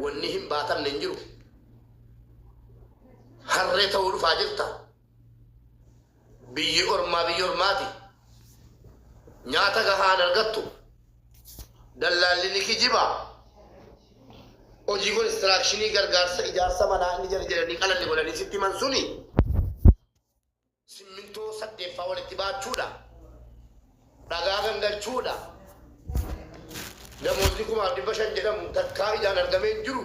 Wanni hin baatamne hin jiru. Harree ta'uu dhufaa jirta. Biyyi ormaa biyyi ormaati. Nyaata gahaan argattu. Dallaalli ni kijiba. Hojii konistiraakshini gargaarsa ijaarsa manaa inni jara jedhanii qalanni godhanii sitti himan suni. Simmintoo saddeeffaa walitti baachuudha. Dhagaa gangalchuudha. Damootni kumaaf dhibba shan jedhamu takkaa ijaan argamee hin jiru.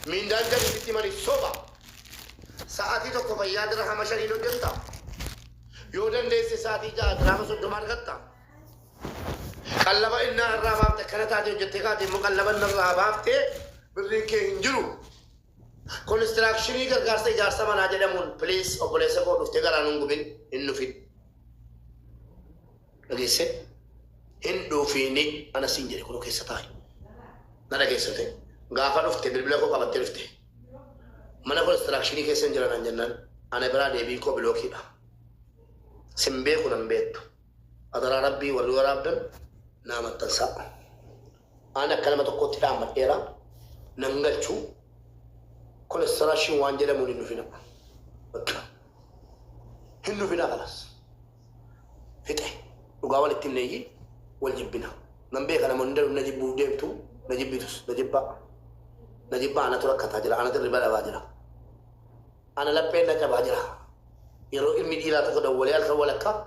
Miindaan jariisitti himaniif soba. Sa'aatii tokko fayyaa dirhama shaniin hojjetta. Yoo dandeesse sa'aatii ja'a dirhama soddoma argatta. Qallaba innaa irraa baafte akkana taate hojjettee kaate immoo qallaba inni irraa baafte birriin kee hin jiru. Konistiraakishinii gargaarsa ijaarsa manaa jedhamuun please obboleessa koo dhuftee garaa nun gubin hin dhufin. Dhageesse hin dhufiini ana siin jedhe kunoo keessa taa'i. Na dhageesse ta'e gaafa dhufte bilbila koo qabattee dhufte. Mana konistiraakishinii keessa hin jiran jennaan ana biraa deebiin koo bilookiidha. Sin beeku nan beektu. Adaraa rabbii warri waraabdan naa maxxansaa. An akka nama tokkootti dhaammadheera. Nan galchu. Kolesterashiin waan jedhamuun hin dhufina. Bakka. Hin dhufina kanas. Fixe. Dhugaa walitti himneeyyi wal jibbina. Nan beeka namoonni darbu na jibbuuf deemtu na jibbitus na jibbaa. Na jibbaa anatu rakkataa jira anatu hirriba dhabaa jira. Ana lapheen na cabaa jira. Yeroo ilmi dhiiraa tokko dawwalee halkan walakkaa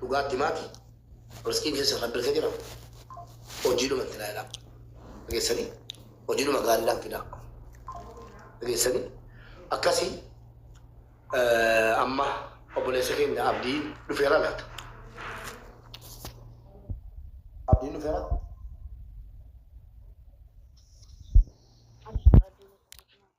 dhugaatti maati riskiin keessa kan dirqee jira hojiidhuma itti laayilaa dhageessanii hojiidhuma gaallaa itti laa dhageessanii akkasii amma obboleessa keenya abdii dhufeera laata abdiin dhufeera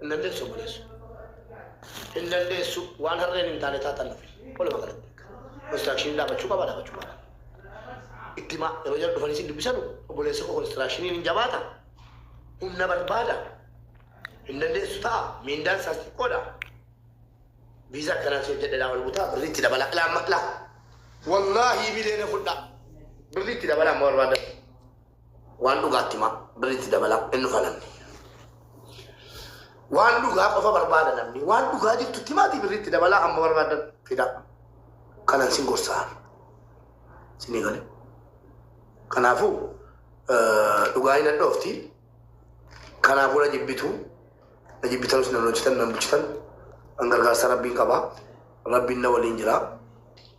Hin dandeessu obboleesso. Hin dandeessu waan harreen hin taane taatan nufi. Walumaa galatti construction dhaabachuu qaba dhaabachuu qaba. Itti himaa yeroo jara dhufanii sin dubbisanu obboleessa koo constructioniin hin jabaata. Humna barbaada. Hin dandeessu ta'a. Miindaan isaas xiqqoodha. Viizaa akkanaa si hojjedhedhaa ol butaa birrii itti dabalaa. Ilaa amma ilaa. Wallaahi bileena fudhaa. Birrii itti dabalaa amma barbaaddan. Waan dhugaa itti himaa birri itti dabalaa hin dhufa namni. Waan dhugaa qofa barbaada namni. Waan dhugaa jirtu itti himaatii birri itti dabalaa hamma barbaadan fidaa. Kanan sin gorsaa. Sinii galee. Kanaafuu dhugaa hin hadhoofti. Kanaafuu na jibbitu. Na jibbitanus nan hojjetan nan bulchitan. An gargaarsa rabbiin qaba. Rabbiin na waliin jira.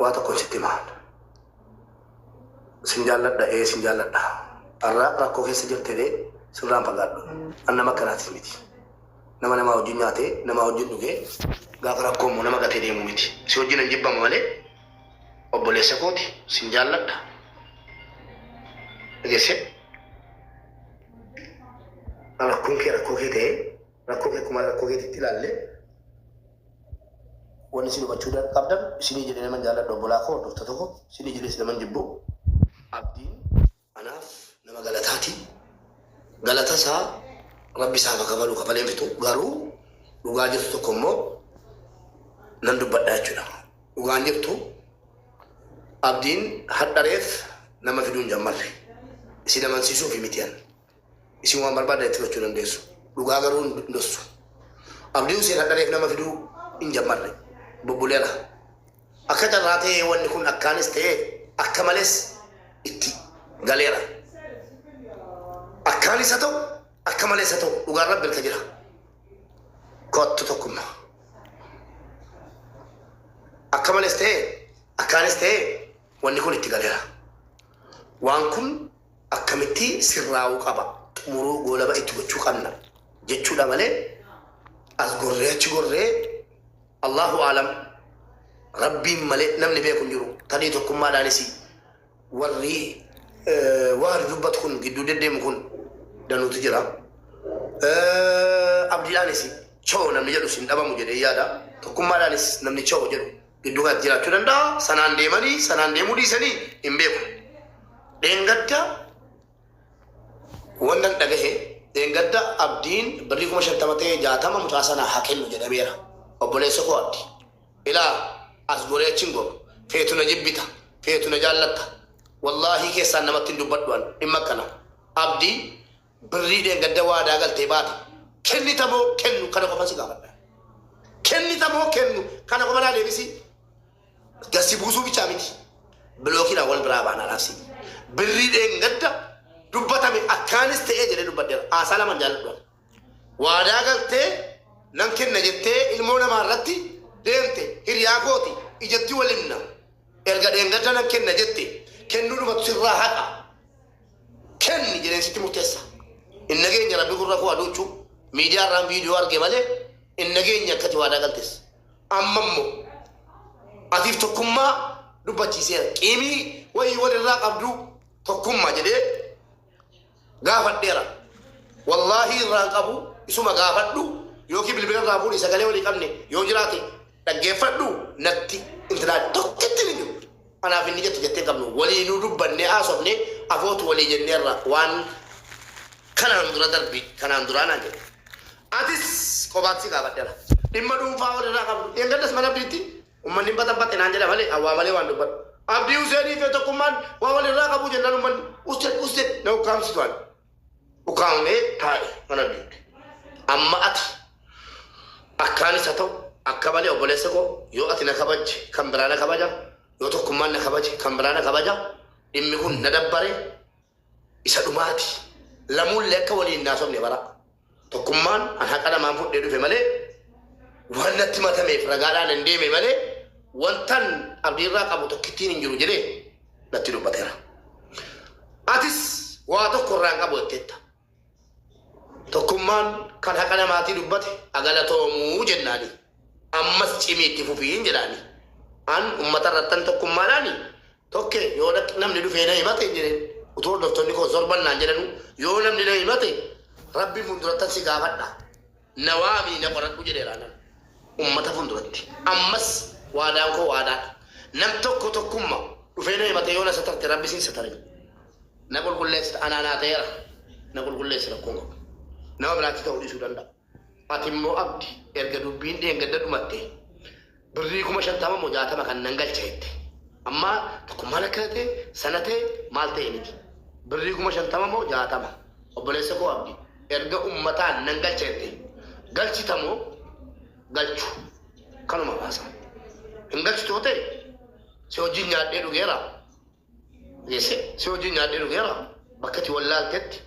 waa tokko sitti himaa sin jaalladha ee sin jaalladha har'a rakkoo keessa jirtee sirraan fagaadhu an nama akkanaatis miti nama namaa wajjin nyaatee namaa wajjin dhugee gaafa rakkoo immoo nama gatee deemu miti si wajjin hin jibbama malee obboleessa kooti sin jaalladha dhageesse rakkoon kee rakkoo kee ta'ee Rakkoo kee akkuma rakkoo keetitti ilaallee wanni isin hubachuu dan- qabdan isinii jedhee naman jaalladhu obbolaa koo hordoftoota koo isinii jedhees naman jibbu abdiin anaaf nama galataati galata isaa rabbi isaaf haa kafalu kafalee hin fixu garuu dhugaa jirtu tokko immoo nan dubbadha jechuudha dhugaan jirtu abdiin hadhareef nama fiduu hin jammarre isin amansiisuuf mitiyan Isin waan barbaaddan itti fudhachuu dandeessu. Dhugaa garuu hin dossu. Abdii Huseen hadha reef nama fiduu hin jammarre. Bubbulee ala. Akka carraa ta'ee wanni kun akkaanis ta'ee akka malees itti galeera. Akkaanis haa ta'u akka malees haa ta'u dhugaan rabbi harka jira. Kottu tokkummaa. Akka malees ta'ee akkaanis ta'ee wanni kun itti galeera. Waan kun akkamitti sirraa'uu qaba, xumuruu, goolaba itti gochuu qabna jechuudha malee as gorree achi gorree Allahu aalam Rabbiin malee namni beeku hin jiru. Tarii tokkummaadhaanis warri eh, waan dubbatu kun gidduu deddeemu kun danuutu jira. Eh, Abdiidhaanis choo namni jedhu sin dhabamu jedhee yaada. Tokkummaadhaanis namni choo jedhu Gidduu kanatti jiraachuu danda'a. Sanaan deemanii sanaan deemuu dhiisanii hin beeku. Dheengadda wannan dhagahe dheengadda abdiin birrii kuma shantama ta'e jaatama mucaa sana haa kennu jedhameera. Obboleessa koo abdi. Ilaa as goree achi hin goru. Feetu na jibbita. Feetu na jaallatta. Wallaahii keessaan namatti hin dubbadhu an dhimma akkana. Abdi Birrii dheengadda waadaa galtee baate kennita moo kennu kana qofan si gaafadha. Kennita moo kennu kana qofa naa deebisi. Gad si buusuu bichaa miti. Bilookiidhaan wal biraa baana laafsi. Birrii dheengadda dubbatame akkaanis ta'ee jedhee dubbadheera. Haasaa lamaan jaalladhu. Waadaa galtee nan kenna jettee ilmoo namaa irratti deemte hiriyaa kooti ijatti wal himna. Erga dheengadda nan kenna jette kennuudhumatu sirraa haqa. kenni jedheen sitti murteessa. Hin nageenye rabbi gurra koo aduuchuu miidiyaa irraan viidiyoo arge malee hin nageenye akkati waadaa galtes. Amma immoo atiif tokkummaa dubbachiiseera. Qiimii wayii walirraa qabduu tokkummaa jedhee gaafadheera. Wallaahi irraan qabu isuma gaafadhu yookiin bilbila irraa fuudhi sagalee walii qabne yoo jiraate Dhaggeeffadhu natti intinaan tokkittiin hin jirtu. Anaaf inni jettu jettee hin qabnu. Waliinuu dubbannee haasofnee afootu walii jenneerra waan kanaan dura darbi kanaan duraa naan jedhe. Atis qobaatti si gaafadheera. Dhimma dhuunfaa walirraa qabdu. Dheengaddas mana Abdiitti ummanni hin baxabaxe naan jedha malee an waa malee waan dubbadhu. Abdii Huseenii fi tokkummaan waa walirraa qabu jennaan ummanni usted usted na ukkaamsitu ani. dhukaamee taa'e mana diigde. Amma ati akkaanis haa ta'u akka malee obboleessa koo yoo ati na kabajje kan biraa na kabaja yoo tokkummaan na kabaje kan biraa na kabaja dhimmi kun na dabbare isa dhumaati lamuullee akka waliin naasofne bara Tokkummaan an haqa namaan fudhee dhufe malee waan natti matameef ragaadhaan hin deeme malee wantan abdiirraa qabu tokkittiin hin jiru jedhee natti dubbateera. Atis waa tokko irraa hin qabu jetteetta. Tokkummaan kan haqa namaatii dubbate agalatoomuu jennaani. Ammas cimii itti fufiin jedhaani. An uummata irrattan tokkummaadhaani Tokke, Yoo dhaqx namni dhufee na himate hin jedhin. Utuu hordoftonni koo sorban naan jedhanuu, yoo namni na himate Rabbi fundurattan si gaafadha. Na waamii na qoradhu jedheera nan. Ummata funduratti. Ammas waadaan koo waadaadha. Nam tokko tokkumma dhufee na himate yoo na satarte Rabbis hin satarin. Na qulqulleessita anaa naa ta'eera. Na qulqulleessi rakkoon qabu. Nama biraatti ta'uu dhiisuu danda'a. Atimmoo Abdi erga dubbiin dheengadda dhumatte birrii kuma shantama moo jaatama kan nan galcha jette. Amma tokko maal akka tate, sana ta'e, maal ta'e miti. Birrii kuma shantama moo jaatama obboleessa koo Abdi erga ummataan nan galcha jette galchita moo galchu kanuma baasa. Hin galchitu yoo ta'e si wajjin nyaadhee dhugeera Yese, si wajjin nyaadhee dhugeera, bakka ati wallaaltetti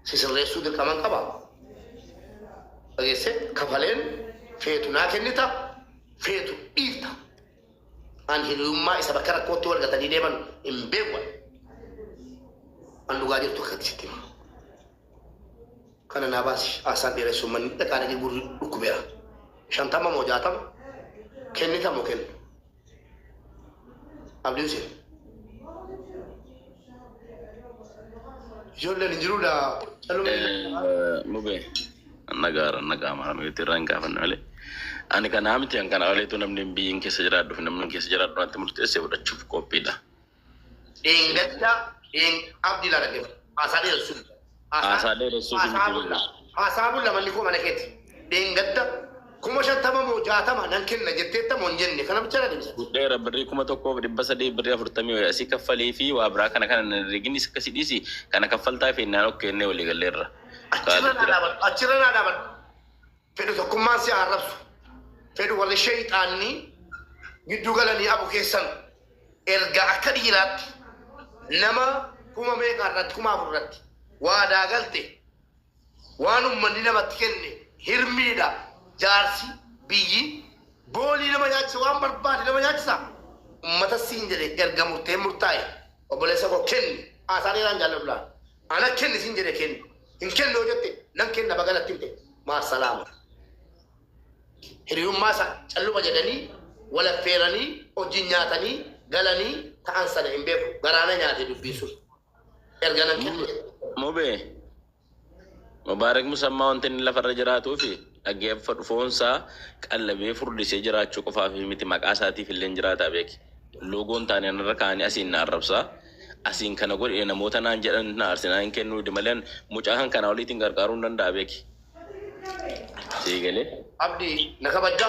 si sirreessuu dirqaman qaba. Dhageesse, kafaleen feetu naa kennita, feetu dhiifta. An hiriyummaa isa bakka rakkootti wal gatanii deeman hin beeku. An dhugaa jirtu akkatti sitti hima. Kana naa baasi haasaan dheeressuun manni dhaqaa dhaqee gurri dhukkubeera. Shantama moo jaatama kennita moo kennu? Abdiin seena. Ijoolleen hin jiru daa calumee. Mube nagaara nagaa maamilti irraa hin gaafanne malee. Ani kana miti an kana oliitu namni biyyiin keessa jiraadhu fi namni keessa jiraadhu natti murteessee fudhachuuf qophiidha. Dheengadda dheen abdi lala deema. Haasaa dheeressuuf. Haasaa dheeressuuf hin Haasaa bulla. deemu. Haasaa bulla manni koo mana keeti. Dheengadda kuma shantama moo jaatama nan kenna jetteetta moo hin jenne kana bicha na deebisa. Fudheera birrii kuma tokkoo fi dhibba sadii birrii afurtamii wayii asii kaffalii fi waa biraa kana kana hin herregin isa akkasii dhiisi kana kaffaltaa fi innaan ok jennee walii galleerra. Achirra Kaalid naa jira. dhaabadhu. Achirra naa dhaabadhu. Fedhu tokkummaan si haa arrabsu. Fedhu warri sheeyxaanni gidduu galanii abu keessan erga akka dhiiraatti nama kuma meeqaa irratti kuma afur irratti waadaa galte waan ummanni namatti kenne hirmiidha jaarsi biyyi boolii nama nyaachisa waan barbaade nama nyaachisa ummata siin jedhe erga murteen murtaa'e obboleessa koo kenni haasaa dheeraan jaalladhu laata. Ana kenni sin jedhe kenni. Hin kennu yoo jette nan kenna baga natti himte. Maasalaama. Hiriyummaa isa calluma jedhanii wal affeeranii wajjin nyaatanii galanii ta'an sana hin beeku. Garaa na nyaate dubbiin sun. Erga nan kenna jette. Mubee. Mubaarak Musammaa wanti inni lafarra jiraatuufi. Dhaggeeffadhu, foonsaa qallabee furdisee jiraachuu qofaaf miti, maqaasaatiifillee hin jiraata beeki. Loogoon taane anarra kaa'anii asiin na arrabsa, asiin kana godhi namoota naan jedhan na aarsinaa hin kennuu idi malee an mucaa kan kanaa oliitiin qarqaaruu hin danda'a beeki. Sii galee? Abdi, na kabajja?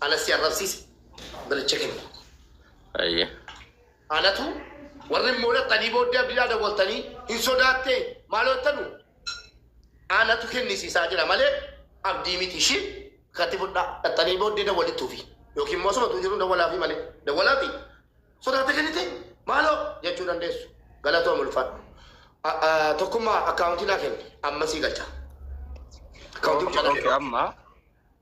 Ana si arrabsiise balicha kenni. Ayyee. Anatu warri immoo dhaxxanii booddee abdiidhaa dawwaltanii hin sodaattee maaloo jettanu anatu kennisiisaa jira malee abdii miti ishii katti fudhaa dhaxxanii booddee dawwalittuufi yookiin immoo sumatu jiru dawwalaafii malee dawwalaafii sodaattee kennite maaloo jechuu dandeessu galatoo mulfaadhu. A- a- Tokkummaa akkaawuntii naa kenni amma sii galcha. Akkaawuntii Okay, okay, amma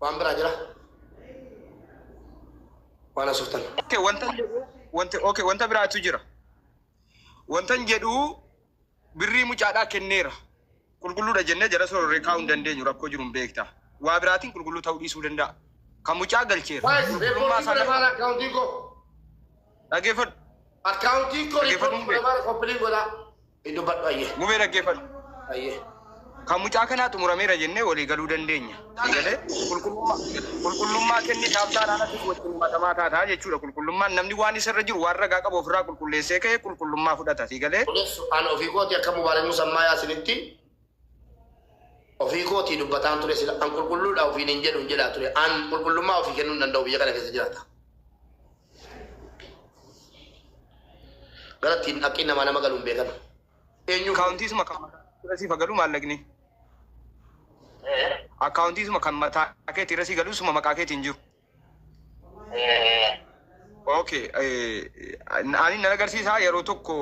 Waan biraa jira? Waan asoftan. Okay, wanta jedhu wanta okay, wanta biraatu jira. Wantan jedhu birrii mucaadhaa kenneera. Qulqulluudha jennee jara sororree kaa'uu hin dandeenyu rakkoo jiru hin beekta. Waa biraatiin qulqulluu ta'uu dhiisuu danda'a. Kan mucaa galcheera. Waayis Qulqullummaa reekoordiin isaa godhe maal akkaawuntiin koo? dhageeffadhu. Akkaawuntiin koo Dhaggeeffadhu reekoordiin godhe hundee. maal koppiliin godhaa? Itti dubbadhu ayyee. Mubee dhaggeeffadhu. Ayyee. Kan mucaa kanaa xumurameera jennee walii galuu dandeenya. Eegalee qulqullummaa qulqullummaa kennitaaf taanaan atis wajjin himatamaa taataa jechuudha. Qulqullummaan namni waan isa irra jiru waan ragaa qabu ofirraa qulqulleessee ka'e qulqullummaa fudhata. Sii galee? Qulqulleessu an ofii kooti akka Mubaarak Musammaayaa sinitti ofii kootii dubbataan ture sila an qulqulluudha ofiin hin jedhu hin jedhaa ture an qulqullummaa ofii kennuu hin danda'u biyya kana keessa jiraata. Gara ittiin haqqiin namaa nama galuun beekame. Eenyu? Akkaawuntii suma kan mataa irra siif galu maallaqni. Akkaawuntii suma kan mataa keetii irra sii galu suma maqaa keetiin jiru. Okay. Ani nan agarsiisaa yeroo tokko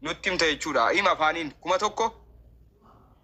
nutti himta jechuudha. Hima afaaniin kuma tokko.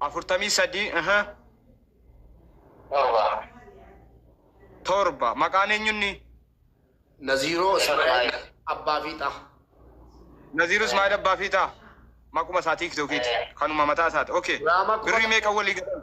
afurtamii sadii aha Torba. torba maqaan eenyunni Naziiroo Ismaa'il Abbaa Fiixaa. Naziiruu Ismaa'il Abbaa Fiixaa maquma isaa tiiktookiiti kanuma mataa isaati okay Diraamaa kuma birrii meeqa walii galan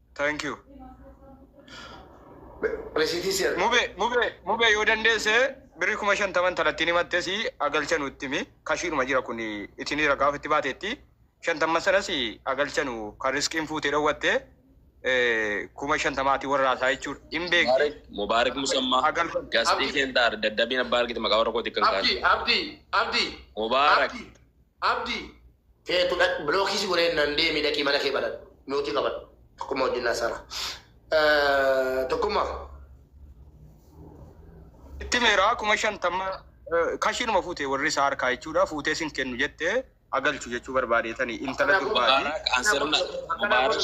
Thank you. Resitii si argina. Mube, mube, mube yoo dandeesse birri kuma shantaman talattiin himatte si agalcha nutti himi. Kashiidhuma jira kun itinii ragaa ofitti baateetti. Shantamman sanas agalcha nu kan riskiin fuutee dhowwatte eh, kuma shantamaati warraa isaa jechuudha. Hin beekti. Mubarak, Mubarak Musamma, Agalfan. Gastii Abdi. Kentar, Daddabiin Abbaa Argite Maqaa Warra Kootii Kan Abdi, Kaate. Abdi, Abdi, Mubarak, Abdi, Abdi. Feetu dhaqi block si godhe jennan deemi dhaqi mana kee banadhu mute qabadhu tokkumma wajjin haasana tokkumma. Itti meeraa kuma shantamma kashiinuma fuute warri isaa harkaa jechuudha fuutee sin kennu jette agalchu jechuu barbaadeetani intala durbaati. Mubaarak an sirna Mubaarak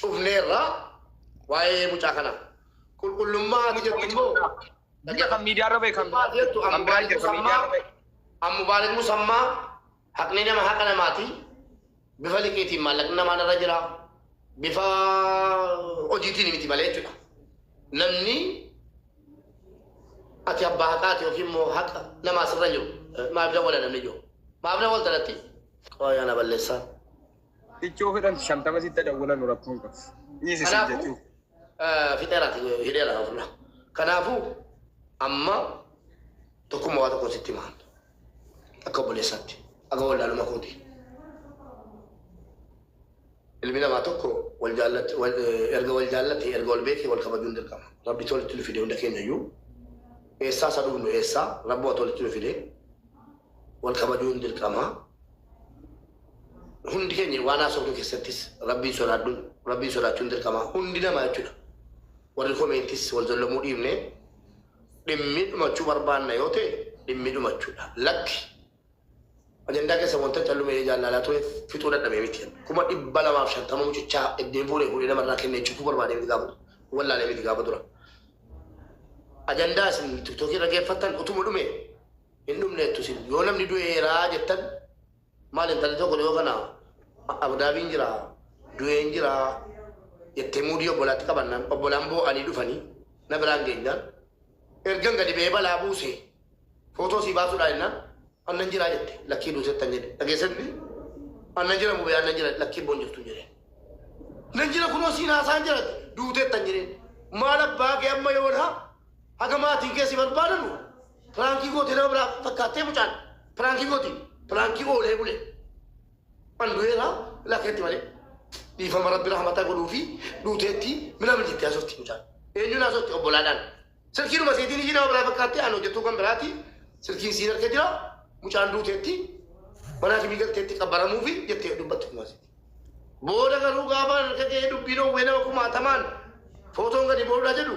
cufneerra waa'ee mucaa kanaa. Qulqullummaa ati jettu immoo Biyya kan miidiyaa irra beekan Qulqullummaa ati jettu kan biraa jira kan miidiyaa irra beekan. Ammubaarik Musammaa haqni nama haqa namaati. Bifa liqiitiin maallaqni namaan irra jira. Bifa hojiitiin miti malee jechuudha. Namni ati abbaa haqaati yookiin immoo haqa namaa sirra jiru maaf dawwala namni jiru. Maaf dawwalta natti? Qoyaa na balleessaa. Ichi yoo fedhan shantama sitta dawwalanu rakkoo hin qabu. Dhiisi sin Kanaafuu jechuu. eh, fixeera hidheera kan fuula. Kanaafuu amma tokkummaa waa tokko sitti himaan akka obboleessaatti akka wallaaluma kooti. Ilmi namaa tokko wal jaallate wal- eh, erga wal jaallate erga wal beekee wal kabajuun dirqama. Rabbi tolitti nu fide hunda keenya iyyuu eessaa isa dhufnu eessaa rabbi waa tolitti nu fide wal kabajuun dirqama. Hundi keenya waan haasofnu keessattis Rabbiin sodaadhu, Rabbiin sodaachuun dirqama. Hundi nama jechuudha. Warri komeentis wal zollamuu dhiibne dhimmi dhumachuu barbaanna yoo ta'e dhimmi dhumachuudha. Lakki ajandaa keessa wanta callume jaallaalaa ture fixuu dadhabee miti. Kuma dhibba lamaaf shantama mucichaa ittiin fuudhee fuudhee namarraa kennee cubbuu barbaadee miti gaafa wallaalee miti gaafa dura. Ajandaa isin tiktookii irra geeffattan utuma dhume hin dhumneettu isin yoo namni du'eera jettan maal intalli tokko dhiyoo kana abudaabiin jira du'een jira jettee muudii obbolaatti qabannaan obbolaan boo'anii dhufanii na biraan geenyaan ergan gadi ba'ee balaa buuse footoo sii baasuudhaa jennaan annan jiraa jette lakkii duutettan jedhe dhageessetti annan jira mubee annan jira lakkii boon jirtu jedhe nan jira kunoo siin haasaan jira duutettan jedheen maal abbaa kee amma yoona haga maatiin kee si barbaadanu Piraankii goote nama biraa fakkaattee mucaan. Piraankii gooti. Piraankii oolee bulee. An du'eera lakkeetti malee. Dhiifama rabbi rahmataa godhuu fi duuteetti minama jetti haasofti mucaan. Eenyuun haasofti obbolaadhaan. Silkiinuma seetiin ishii nama biraa fakkaattee an hojjetuu kan biraati. Silkiin siin harka jira. Mucaan duuteetti manaa fi miidhagteetti qabbaramuu fi jettee dubbattu kumaas. Booda garuu gaafa harka ga'ee dubbiin owwee nama kumaatamaan footoon gadi boodhaa jedhu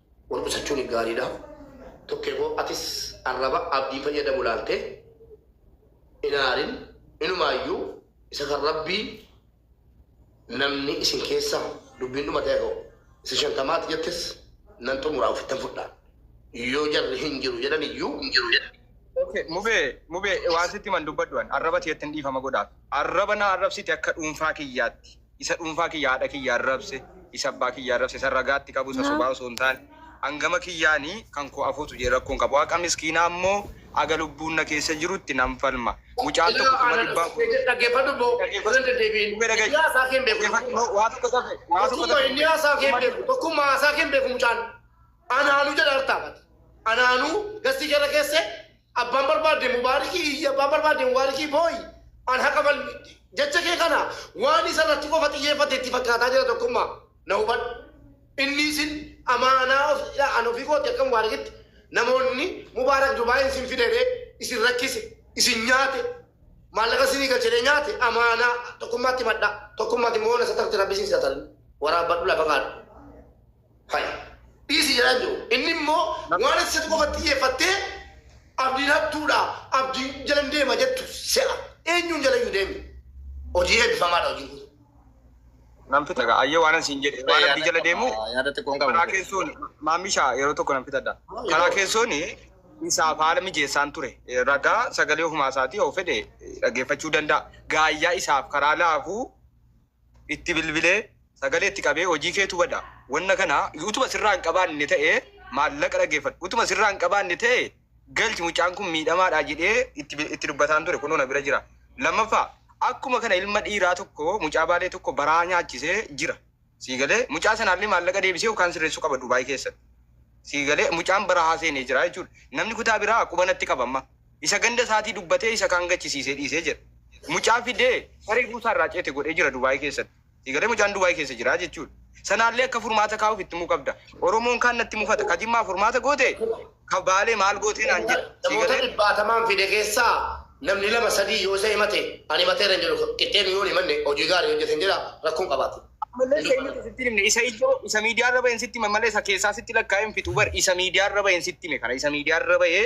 Wal qusachuun gaariidha. Tokkee koo atis arraba Abdii fayyadamu laaltee hin aarin inumaayyuu isa kan Rabbii namni isin keessa dubbiin dhumate haa ga'u. Isa shantamaa ati jettes nan xumuraa ofittan fudhaa. Yoo jarri hin jiru jedhan iyyuu. Ok mubee mubee waan sitti himan dubbadhu an arraba teetti hin dhiifama godhaaf arraba na arrabsite akka dhuunfaa kiyyaatti Isa dhuunfaa kiyya haadha kiyya arrabse, isa abbaa kiyya arrabse, isa ragaa itti qabu, isa sobaa osoo hin taane, an gama kiyyaani kan koo afotu jedhe rakkoo hin qabu. Haqa miskiinaa ammoo haga lubbuun na keessa jirutti nan falma. Mucaan tokko kuma dhibba afur. Dhaggeeffadhu boo, irra hin deddeebi'in. Inni haasaa kee hin beeku. Dhaggeeffadhu. Waa tokko tafe. Waa tokko tafe. Tokkumma inni haasaa kee hin beeku. Tokkumma haasaa kee hin beeku mucaan. Anaanu jedha artaa bati. Anaanu gastii kee irra keessee Abbaan barbaadde mubaarikii iyyi, abbaan barbaadde mubaarikii booyi. An haqa falmi. Jecha kee kana waan isa irratti qofa xiyyeeffatte itti fakkaataa jira tokkummaa. Na hubadhu. Inni isin amaanaa ofii dha. An ofii kooti akka mubaarikitti namoonni mubaarak Dubaayiin isin fide ree? Isin rakkise? Isin nyaate? Maallaqa isinii galche ree? Nyaate? Amaanaa. Tokkummaatti himadhaa. Tokkummaati moona satarti rabbi isin satarni. Waraabbadhu lafa kaadhu. Fayi. Dhiisi jedhaan jiru. Inni immoo waan ati isatti qofa xiyyeeffattee abdiin hattuudha, abdiin jalan deema jettu se'a. Eenyuun jala iyyuu deemi. Hojii eebbifamaadha hojiin kun. Nan fixaga. Ayyee waanan siin jedhe waan abdii jala deemu Yaada xiqqoon qabu. karaa keessoon maammisha yeroo tokko nan fixadha. Karaa keessoon isaaf haala mijeessaan ture. Ragaa sagalee ofumaa isaatii yoo fedhe dhaggeeffachuu danda'a. Gaayyaa isaaf karaa laafuu itti bilbilee sagalee itti qabee hojii keetu bada wanna kana utuma sirraa hin qabaanne ta'e maallaqa dhaggeeffadhu utuma sirraa hin qabaanne ta'e galchi mucaan kun miidhamaadha jedhee itti bi- itti dubbataan ture kunoo na bira jira lammaffaa akkuma kana ilma dhiiraa tokko mucaa baalee tokko baraa nyaachisee jira sii galee mucaa sanaallee maallaqa deebisee yookaan sirreessuu qaba dubaayii keessatti sii galee mucaan barahaa seenee jira jechuudha namni kutaa biraa quba natti qaba amma Isa ganda isaatii dubbatee isa kaan gachisiisee dhiisee jedha. Mucaa fidee saree buusaa irraa ceete godhee jira Dubaay keessatti. Sii galee mucaan Dubaay keessa jira jechuudha. Sanaallee akka furmaata kaa'uuf itti himuu qabda. Oromoon kaan natti mufata. Ka Jimmaa furmaata goote ka Baalee maal gootee naan jedha. Sii Namoota galee? dhibbaatamaan fide keessaa namni lama sadii yoo isa himate ani himateera hin jedhu. Qixxeenu yoo hin himanne hojii gaarii hojjete hin jedha rakkoon qabaate. Ammallee Hin isa dubbatu. eenyutu sitti hin himne? Isa ijoo isa miidiyaa irra baheen sitti hime malee isa keessaa sitti lakkaa'ee hin fixu bar isa miidiyaa irra baheen sitti hime kana isa miidiyaa irra bahee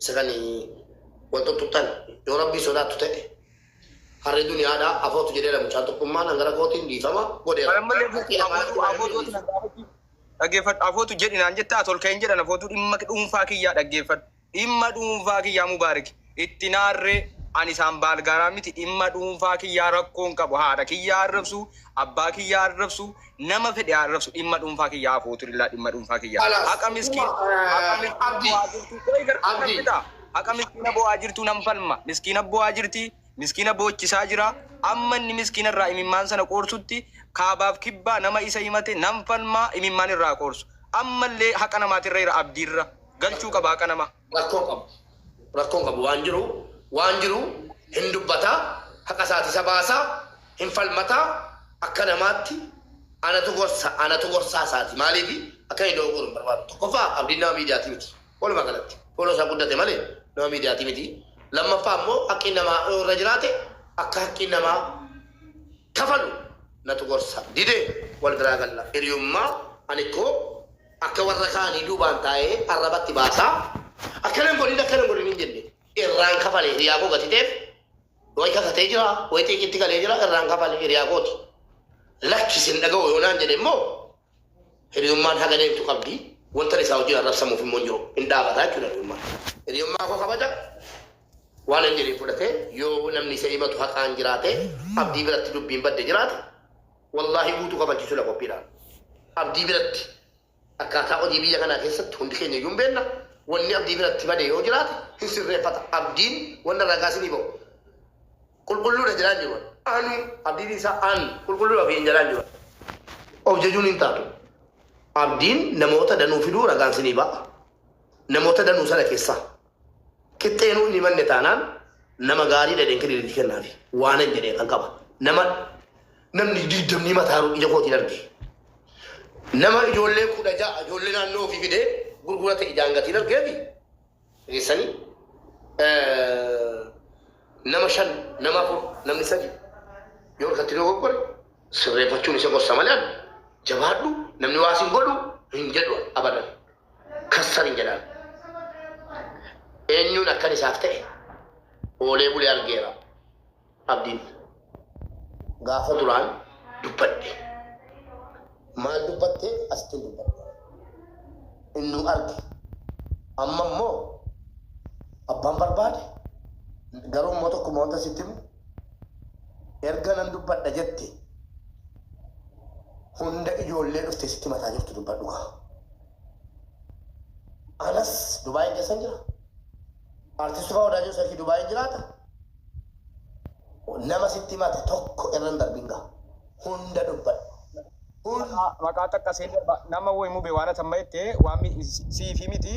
Isa kan wal xuxxuxxan yoo rabbii sodaattu ta'e harri duniyaadha afootu jedheera mucaan tokkummaan hangara kootiin dhiifama godheera. Kan ammallee Harki guutuu lamaan afootu afootu ati na gaafachuu dhaggeeffadhu afootu jedhi naan jetta ati ol ka'een jedhan afootu dhimma dhuunfaa kiyyaa dhaggeeffadhu dhimma dhuunfaa kiyyaa Mubaarik itti naarree ani isaan baalgaaraa miti dhimma dhuunfaa kiyyaa rakkoon qabu haadha kiyyaa arrabsuu abbaa kiyyaa arrabsuu nama fedhe haa arrabsu dhimma dhuunfaa kiyya haa fuuturillaa dhimma dhuunfaa kiyya Kalaas, haqa miskiin dhuma, eh, haqa miskiina Abdi, bo'aa jirtuu qoy gartuu nan Abdi. fixaa haqa miskiina bo'aa jirtuu nan falma miskiina bo'aa jirti miskiina boochisaa jira amma inni miskiina irraa imimmaan sana qoorsutti kaabaaf kibbaa nama isa himate nan falmaa imimmaan irraa qoorsu ammallee haqa namaatirra jira abdiirra galchuu qaba haqa nama rakkoo hin qabu. Rakkoo hin qabu waan jiru waan jiru hin dubbata haqa isaati isa baasa hin falmata akka namaatti anatu gorsa anatu gorsaa isaati maaliif akka inni dogoggoru hin barbaadu tokkoffaa abdiin nama miidiyaati miti walumaa galatti fooloo isaa guddate malee nama miidiyaati miti lammaffaa immoo haqqiin namaa yoo irra jiraate akka haqqiin namaa kafalu natu gorsa dide wal biraa galla hiriyummaa ani koo Akka warra kaanii duubaan taa'ee arrabatti baasaa akkana hin godhin akkana hin godhin hin jenne. Irraan kafale hiriyaa koo gatiteef way kakatee jira way xiiqitti galee jira irraan kafale hiriyaa kooti. Lakki sin dhaga'u yoo naan jedhe immoo hiriyummaan haga deemtu qabdi wanta isaa wajjin arrabsamuuf immoo hin jiru hin dhaabata jechuudha hiriyummaan. Hiriyummaa koo kabaja waan hin jedhin fudhatee yoo namni isa himatu haqaan jiraate abdii biratti dubbiin badde jiraate Wallaahi guutuu kafalchiisuu dha qophiidha. Abdii biratti akkaataa odii biyya kanaa keessatti hundi keenya iyyuu hin beenna. Wanni Abdii biratti bade yoo jiraate hin sirreeffata. Abdiin wanna ragaa isinii bahu qulqulluu dha jedhaa hin jiru an. Anu Abdii dhiisaa an qulqulluu dha ofiin jedhaa hin jiru an. Of jajuun hin taatu. Abdiin namoota danuu fiduu ragaan isinii baha. Namoota danuu sana keessaa. Qixxeenuu hin himanne taanaan nama gaarii dhadheen kenniin itti kennaafi. Waanan jedhee kan qaba. Nama namni digdamni himataaru ija kootiin arge. Nama ijoollee kudha ja'a ijoollee naannoo ofii fidee gurgurate ijaan gatiin argeefi. Geessanii nama shan nama afur namni sadi yoo harkatti yoo goggore sirreeffachuun isa gorsa malee ani jabaadhu namni waa sin godhu hin jedhu abadan. kassar hin jedhaan. Eenyuun akkan isaaf ta'e oolee bulee argeera abdiin. Gaafa duraan dubbadhe. Maal dubbattee asittiin dubbadhe. Innuu arge. Amma immoo abbaan barbaade garuu immoo tokkuma wanta sitti himu Erga nan dubbadha jette hunda ijoollee dhufte sitti mataa jirtu dubbadhu kaa. Anas Dubaayin keessan jira. Artisti Faa Wadaajoo Seefii Dubaayin jiraata. Nama sitti mate tokko irra hin darbin gaa. Hunda dubbadhu. Kun maqaa xaqqasee darba nama woy mube waan atan maette waan siifi miti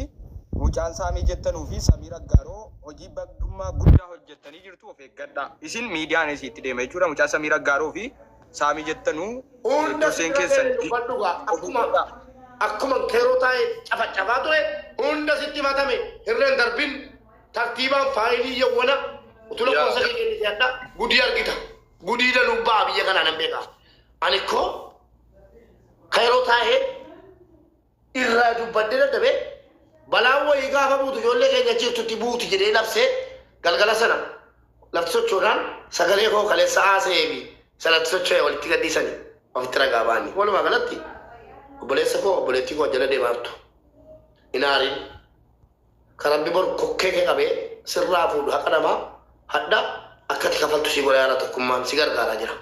mucaan saamii jettanuu fi samiir aggaaroo hojii bagdummaa guddaa hojjettanii jirtu of eeggadhaa isin miidiyaan isii itti deema jechuudha mucaa samiir aggaaroo fi saamii jettanuu durseen keessan of eeggadhaa. Akkuman keeroo taa'ee cafacafaa ture hunda sitti himatame hirren darbin tartiibaan faayilii yawwana utu lakkoofsa kee kennite hadha gudii argita gudii danuub ba'aa biyya kanaa nan beekaa. Ani koo kairoo taa'ee irraa dubbadhee dadhabee balaan wayii gaafa buutu ijoollee keenya jirtutti buuti jedhee labsee galgala sana lafti sochoodhaan sagalee koo kaleessa haasa'ee fi sanatti socho'e walitti gadhiisanii ofitti ragaa ba'anii. Walumaa galatti obboleessa koo obboleettii koo jala deemaa jirtu hin aariin kan rabbi boru kokkee kee qabee sirraa fuudhu haqa namaa hadha akkati kafaltu si godha yaara tokkummaan si gargaaraa jira.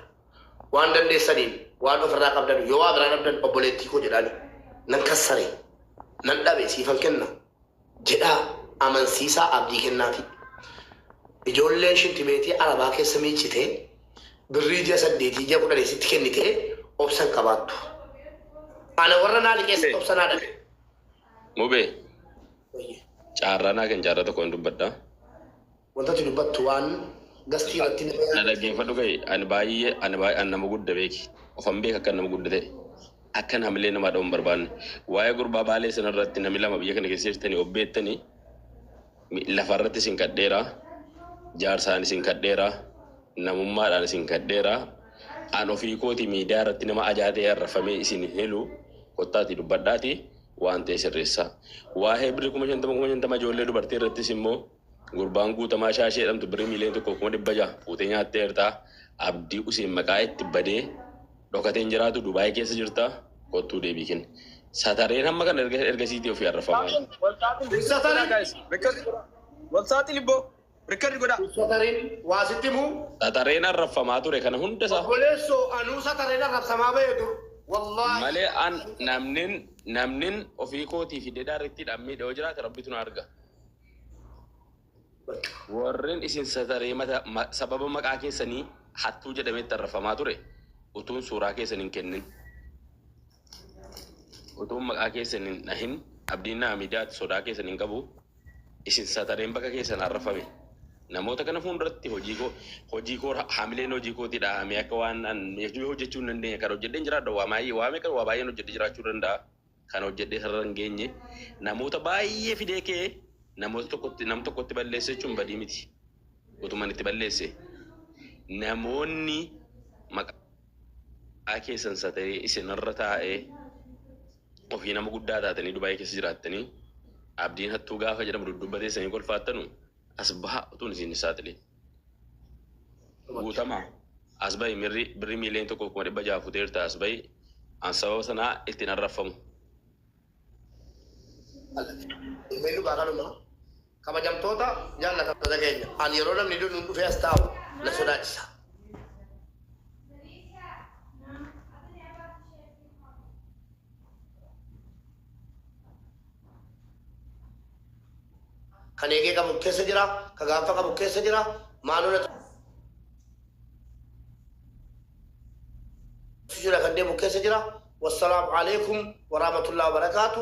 waan dandeessaniin waan ofirraa qabdan yoo waa biraa dhabdan obboleettii koo jedhaani nan kassare nan dhabe siifan kenna jedhaa amansiisaa abdii kennaafii ijoolleen shintibeetii arabaa keessa miiccitee birrii ji'a saddeetii ji'a kudhanii sitti kennitee obsan qabaattu ana warra naa liqeessatti obsa naa dhabe Mubee, Wayye. caarraa naa kenni, caarraa tokko hin dubbadha. Wanta ati dubbattu waan Gastii irratti nama Na yaaddeef. dhaggeeffadhu ga'i. Ani baay'ee ani baay'ee ani nama gudda beeki. Ofan beeka akkan nama gudda ta'e. Akkan hamilee namaa dha'uu hin barbaanne. Waa'ee gurbaa baalee sana irratti nami lama biyya kana keessa jirtanii of beektanii mi- lafa irratti isin kadheera. Jaarsaan isin kadheera. Namummaadhaan isin kadheera. An ofii kooti miidiyaa irratti nama ajaa ta'e arrafamee isin hin hilu. Kottaatii dubbadhaatii waan ta'e sirreessaa. Waa'ee birri kuma shantama kuma shantama ijoollee dubartii irrattis immoo Gurbaan guutamaa shaashee jedhamtu birrii miiliyoona tokko kuma dhibba jaha fuutee nyaattee jirta. Abdii Useen maqaa itti badee dhokatee hin jiraatu Dubaayii keessa jirta. Kottuu deebii kenni. Satareen hamma kana erga erga siitii ofii arrafamaa. Walsaaxili boo rikkadi godhaa. Satareen waa sitti himuu. Satareen arraffamaa ture kana hunda isaa. Obboleessoo anuu satareen arrabsamaa ba'e dur. Wallaahi. Malee an namnin namnin ofii kootii fi dedaa rittiidhaan miidhe yoo jiraate rabbitu na arga. Bakka. Warren isin sataree mata sababa maqaa keessanii hattuu jedhametti arrafamaa ture utuun suuraa keessan hin kennin utuun maqaa keessan hin dhahin abdiin naa miidiyaatti sodaa keessan hin qabu isin satareen bakka keessan arrafame namoota kana fuulduratti hojii koo hojii koo hamileen hojii kootii dhahamee akka waan an hojjechuu hin dandeenye kan hojjedheen jiraadha waa baay'ee waa meeqa waa baay'een hojjedhe jiraachuu danda'a. Kan hojjedhee sarara hin geenye namoota baay'ee fidee kee namoota tokkotti nam tokkotti balleesse jechuun badii miti. Utuman itti balleesse namoonni maqaa keessan sataree isinirra taa'ee ofii nama guddaa taatanii Dubaayii keessa jiraattanii abdiin hattuu gaafa jedhamu dudduuba teessanii kolfaattanu As bahaa utuun isin hin saaxilin. Guutama, as bahi mirri birri miiliyoon tokkoof kuma dhibba ja'a futeerta as bahi an sababa sanaa itti hin arraffamu. Ilmeen dhugaa kanuma. Kabajamtoota jaallatamtoota keenya an yeroo namni du'e nuun dhufee as taa'u na sodaachisa. Kan eegee qabu keessa jira, ka gaanfa qabu keessa jira, maaloo natu jira kan deemu keessa jira. Wassalaamu alaikum warahmatullahi wabarakaatu.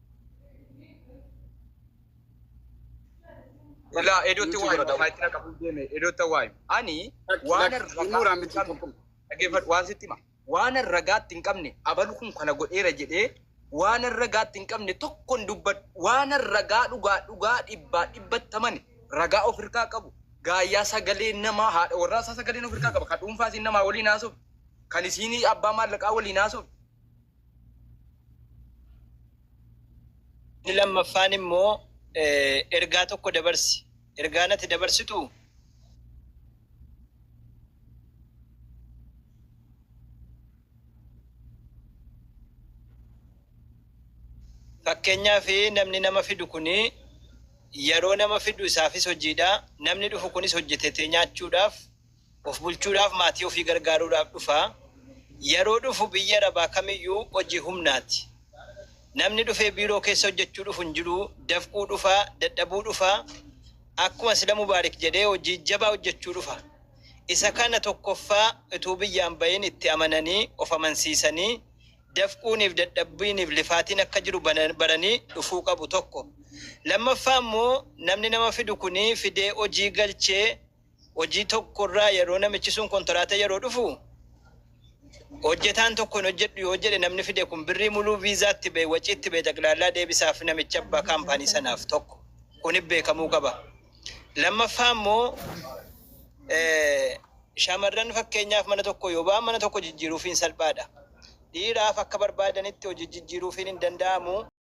Ilaa edootti Nuti waa bira hima. daawwa- Faayitina qabu deeme edootta waa hima. Ani waan Muraan miti ragaa tokko. dhaggeeffadhu waan sitti hima. Waan ragaatti hin qabne abalu kun kana godheera jedhee waan ragaatti hin qabne tokko hin dubbadhu. Waan ragaa dhugaa dhugaa dhibbaa dhibbattaman ragaa of hirkaa qabu. Gaayyaa sagalee namaa haadha warraa isaa sagaleen of hirkaa qaba. Kan dhuunfaa isiin namaa waliin haasoftu. Kan isiin abbaa maallaqaa waliin haasoftu. Inni lammaffaan immoo ergaa tokko dabarsi. Ergaan ati dabarsitu fakkeenyaa fi namni nama fidu kun yeroo nama fidu isaafis hojiidha. Namni dhufu kunis hojjetetee nyaachuudhaaf Of bulchuudhaaf maatii ofii gargaaruudhaaf dhufa. Yeroo dhufu biyyi Arabaa kamiyyuu hojii humnaati. Namni dhufee biiroo keessa hojjechuu dhufu hin jiru, dafquu dhufa, dadhabuu dhufa. Akkuma sila Mubaarik jedhee hojii jabaa hojjechuu dhufa. Isa kana tokkoffaa utuu biyyaa hin bahin itti amananii, of amansiisanii, dafquuniif dadhabbiiniif lifaatiin akka jiru baranii dhufuu qabu tokko. Lammaffaa immoo namni nama fidu kuni fidee hojii galchee, hojii tokko irraa yeroo namichi sun kontiraata yeroo dhufu hojjetaan tokko hin hojjedhu yoo jedhe namni fide kun birrii muluu viizaatti ba'e waciitti ba'e xaqlaallaa deebisaaf namicha abbaa kaampaanii sanaaf tokko kun beekamuu qaba. Lammaffaa immoo eh, shamarran fakkeenyaaf mana tokko yoo ba'an mana tokko jijjiiruufiin salphaadha. Dhiiraaf akka barbaadanitti hojii jijjiiruufiin hin danda'amu.